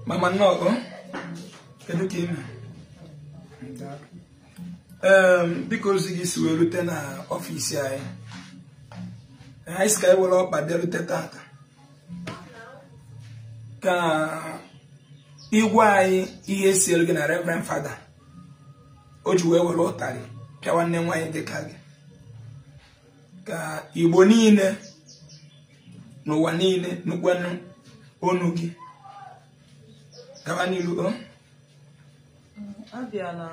mama nnọọ o, kedu ka i me ee dịka ozi gị si wee rute na ọfịs anyị Ee, anyị sị ka anyị were ọkpa bịarute tata ka ị gwa anyị ihe sielu gị na reverend fada o ji wee were ụtarị pịawa nne nwaanyị dịka gị ka igbo niile n'ụwa niile nụkwanụ onu gị gaba n'ilu ọ bịa na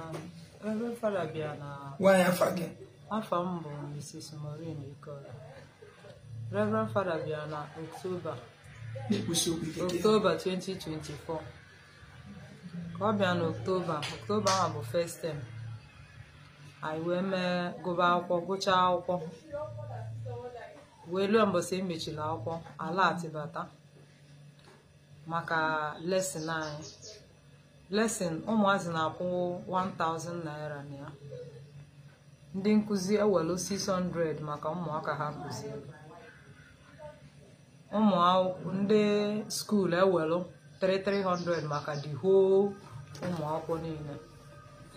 reverend fada bịa na gwa anyị afa gị afa m bụ mrs maureen ikeora reverend fada bịa na oktoba na-ekwusi okwu ike gị. oktoba 2024 ka ọ bịa n'oktoba oktoba ahụ bụ first term anyị wee mee gụba akwụkwọ gụchaa akwụkwọ wee luo mbọsị e mechiri akwụkwọ alert abata maka lesson anyị lesson ụmụazị na-akwụ 1000 naira na ya ndị nkụzi ewelu 600 maka ụmụaka ha kuziri ụmụ akwụkwọ ndị school ewelu 300 maka the whole ụmụ akwụkwọ niile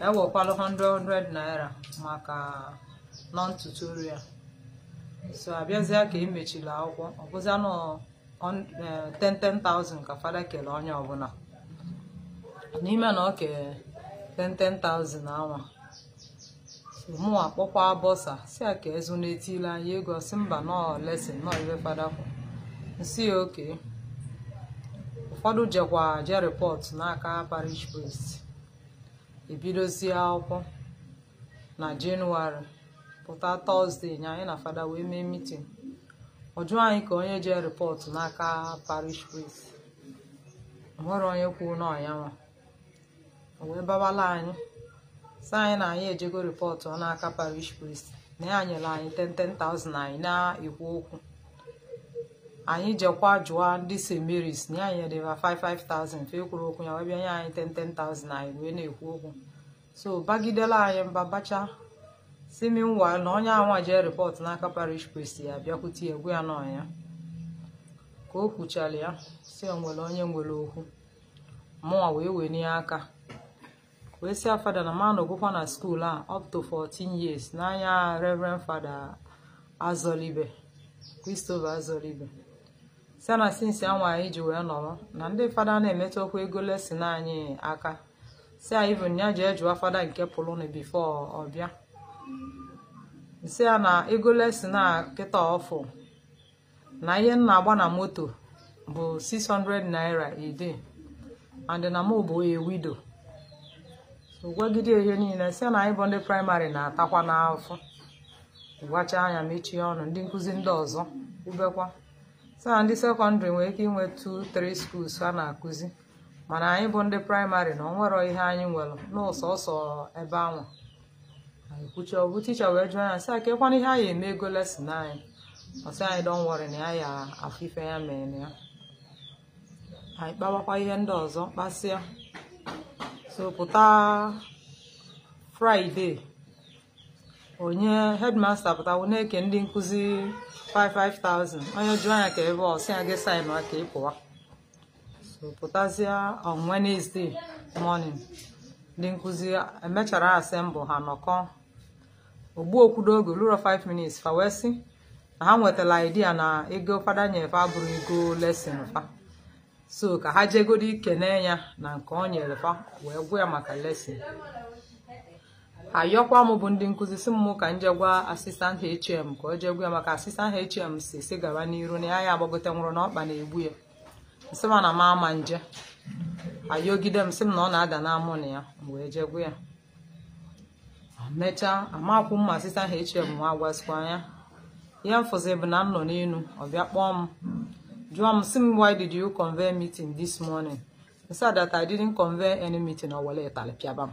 ewekwalụ 100 naira maka non tutorial so abịazịa ka e mechiri akwụkwọ ọ bụzịa na 10,000 ka fada kele onye ọbụla n'ime na o ke 10,000 anwa mụ akpọkwa bursar sị ya ka ezu na-etile anyị ego sị mba na ọ lesson na ọ ife fada kwu nsị ya okay ụfọdụ jekwa je report n'aka parish priest e bidozie akwụkwọ na jenụwarị pụta Thursday nya anyị na fada wee mee meeting ọ jụọ anyị ka onye je report n'aka parish priest nwerọ onye kwu na ọ nyanwa o wee bawala anyị sị anyị na anyị ejego report n'aka parish priest na ya nyere anyị 10,000 anyị na-ekwu okwu anyị jekwa jụọ ndị St. Mary's na ya nyere ha 5,000 fa ekwurọ okwu ya wee bịa nye anyị 10,000 anyị wee na-ekwu okwu so bagidela anyị mba bacha sị meanwhile na onye anwa jee report n'aka parish priest ya bịakwute ya gwa ya na ọ nya ka o kwuchara ya sị o nwere onye nwere okwu mụnwa wee wenie aka wee sị ya fada na m anọgokwa na school a up to 14 years n'anya reverend fada azọlibe Christopher azọlibe sị ya na since anwa anyị ji wee nọrọ na ndị fada na-emetụ okwu ego lesson anyị aka sị ya even ya je jụọ fada nke pụlụnụ before ọ bịa sị ya na ego lesson a kịta ọfụ na ihe m na-agba na moto bụ 600 naira a day and na mụ bụ a widow so gwagide ihe niile sị na anyị bụ ndị praịmarị na-atakwanụ afụfụ gwachaa ya mechie ọnụ ndị nkụzi ndị ọzọ kwubekwa sị na ndị sekọndịrị nwere ike inwe 2-3 schools ha na-akụzi mana anyị bụ ndị praịmarị na o nwero ihe anyị nwere na ọ sọsọ ebe anwa anyị kwucha ofu ticha wee jụọ ya sị kekwanụ ihe a ya-eme ego lesson anyị ọ sị anyị don't worry na ya ya-afụ ife ya ya-eme na ya anyị kpawakwa ihe ndị ọzọ kpasịa so pụta Friday onye headmaster pụta wee na-eke ndị nkụzi 5 5,000 onye jụọ ya kee ebe ọ sị ya gị saịnịa aka ị pụwa so pụtazie on Wednesday morning ndị nkụzi e mechara assembly ha nọkọ ọ bụkwudo oge luru 5 minutes fa wee sị na ha nwetara idea na ego fada nye fa abụrọ ego lesson fa so ka ha jegodi ikene ya na nke o nyere fa wee gwa ya maka lesson ayọkwa m bụ ndị nkụzi sị m ka m je gwa assistant hm ka o jee gwa ya maka assistant hm sị si gaba n'iru na ya ya agbagotenwurọ na ọkpa na-egbu ya m sị mba na m ama nje ayọgide m sị m na ọ na-aga na mụ na ya m wee jee gwa ya mechaa amakwọ m ma assistant hm nwa gwasịkwa ya ihe m fụzi bụ na m nọ n'elu ọ bịa kpọọ m jụọ m sị m why did you convene meeting this morning m sị ya that I didn't convene any meeting o were ịtalị pịaba m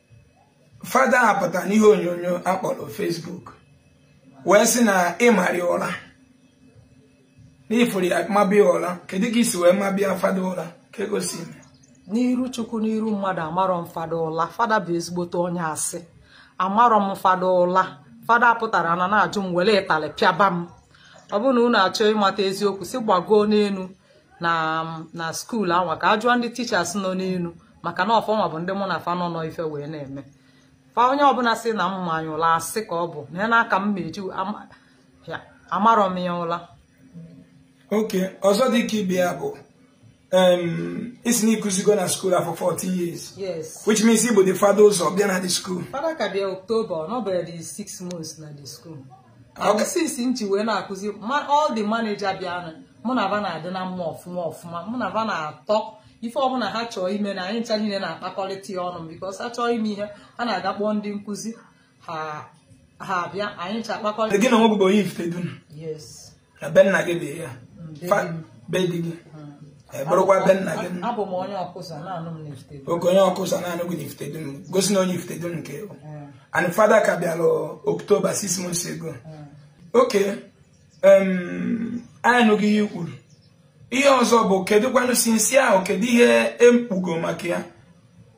fada apụta n'ihe onyonyo a kpọrọ Facebook wee sị na ị mara ya ụra na ị fụrụ ya maba ya ụra kedu ka i si wee maba fada ụra ka egosi n'iru chukwu n'iru mmadụ amarọ m fada ụla fada bụ ezigbote onye asị amarọ m fada ụla fada pụtara na na-ajụ m were ịtalị pịaba m ọ bụrụ na unu achọọ ịmata eziokwu sị gbagoo n'elu na na skuul anwa ka a jụọ ndị tichas nọ n'elu maka na ọ fa nwa bụ ndị mụ na fa nọnụ ife wee na-eme fa onye ọbụla sị na m maa nya ụla a sị ka ọ bụ na ya n'aka m meji amarọ m ya ụla okay ọzọ dị ka ibe ya bụ um, ị sị na ị kụzigo na skuul a for 14 years yes which means i bu the fada ụzọ bịa na the school fada ka bịa October ọ nọberọdị 6 months na the school okay since m ji wee na-akụzi ma- all the manager bịanụ mụ na va na-adị na mma ọfụma ọfụma mụ na va na-atọ ife ọbụla ha chọọ ime na anyị ncha niile na-akpakọrịta ya ọnụ because ha chọọ ime ihe ha na-aga kpọọ ndị nkụzi ha ha abịa anyị ncha akpakọrịta gịnwa bụ onye Ifitedunu yes ebe nna gị dị ya be di gị bụrụkwa be nna gị abụ m onye ọkụzụ a na-anụ m n'ifitedunu okay onye ọkụzụ a na-anụ gị n'ifitedunu gosi na onye ifitedunu nke and fada ka bịara October 6 months ago okay anyị anụgo ihe i kwuru ihe ọzọ bụ kedu kwanụ since ahụ kedu ihe e mekwugo maka ya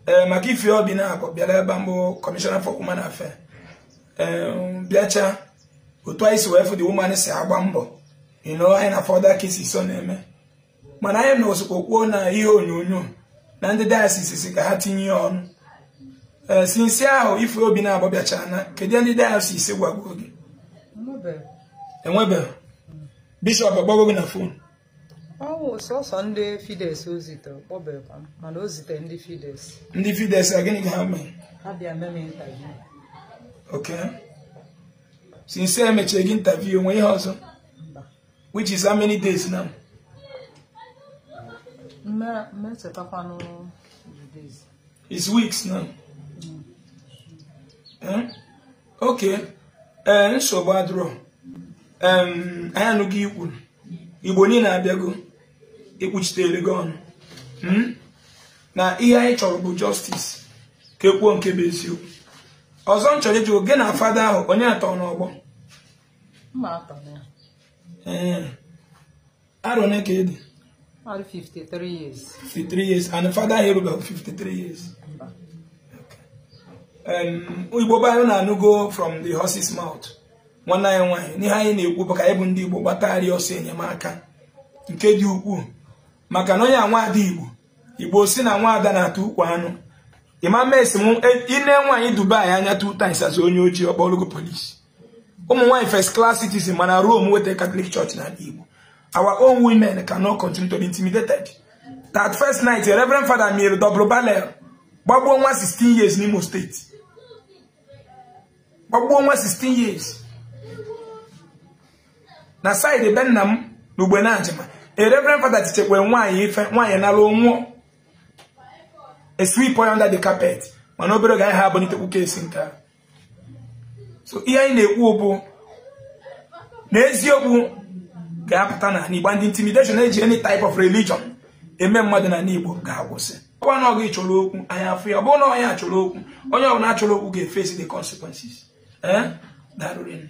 ee maka Ify Obinabo bịara ebe mbụ commissioner for women affairs bịacha otu anyị si wee fụ the woman si agba mbọ you know anyị na-afụ other cases ọ na-eme mana anyị na osokwa kwuo na ihe onyonyo na ndị diocese sị ka ha tinye ya ọnụ ee eh, since ahụ Ify Obinabo bịachara naa kedu ihe ndị diocese gwago gị enwebeghị bishop akpọgo gị na phone ọ bụ sọsọ ndị fides o zite ọ kpọbekwa m, mana o zite ndị fides ndị fides a gịnị ka ha mee ha bịa mee m interview ok since e mechaa gị interview o nwee ihe ọzọ mba which is how many days now Mme- m echetakwanụ the days. it's weeks now Eh? okay ee nsogbu adịrọ anyị anụgo ihe i kwuru igbo niile abịago ikwuchitere gị ọnụ hmm? na ihe anyị chọrọ bụ justice ka e kwuo nke bụ eziokwu ọzọ m chọrọ ịjụ gị na fada ahụ onye tọ n'ọgbọ arọ ole ka ị dị 53 years 53 years and fada ahụ erubeghị 53 years igbo be anyị ụnụ anụgo from the horse's mouth nwanne anyị nwaanyị na ihe anyị na-ekwu bụ ka anyị bụ ndị igbo gbatara ya ọsọ enyemaka nke dị ukwuu maka na onye a nwaada igbo igbo si na nwaada na-ata ukwu anụ ị ma m sị ị nee nwaanyị dubai anya two times as onye ojii ọ kpọlụ gị police ụmụ nwaanyị first class citizen mana Rome weta Catholic Church na Igbo our own women cannot continue to be intimidated that first night Reverend Father were double barrel gbagbuo nwa 16 years n'Imo state gbagbuo nwa 16 years na side be nna m na Ugbene Ajima Reverend Father tichakwara nwaanyị ife nwaanyị nara nwụọ a sweep under the carpet mana obere oge anyị ha abọlitekwu case nke a so ihe anyị na-ekwu bụ na eziokwu ga-apụta na n'igbo and intimidation e ji any type of religion eme mmadụ na n'igbo ga-akwụsị ọ bụrụ na ọ gị chọrọ okwu anyị afụ ya ọ bụrụ na ọ ya chọrọ okwu onye ọbụla chọrọ okwu ga-face the consequences ee eh? daalụ nne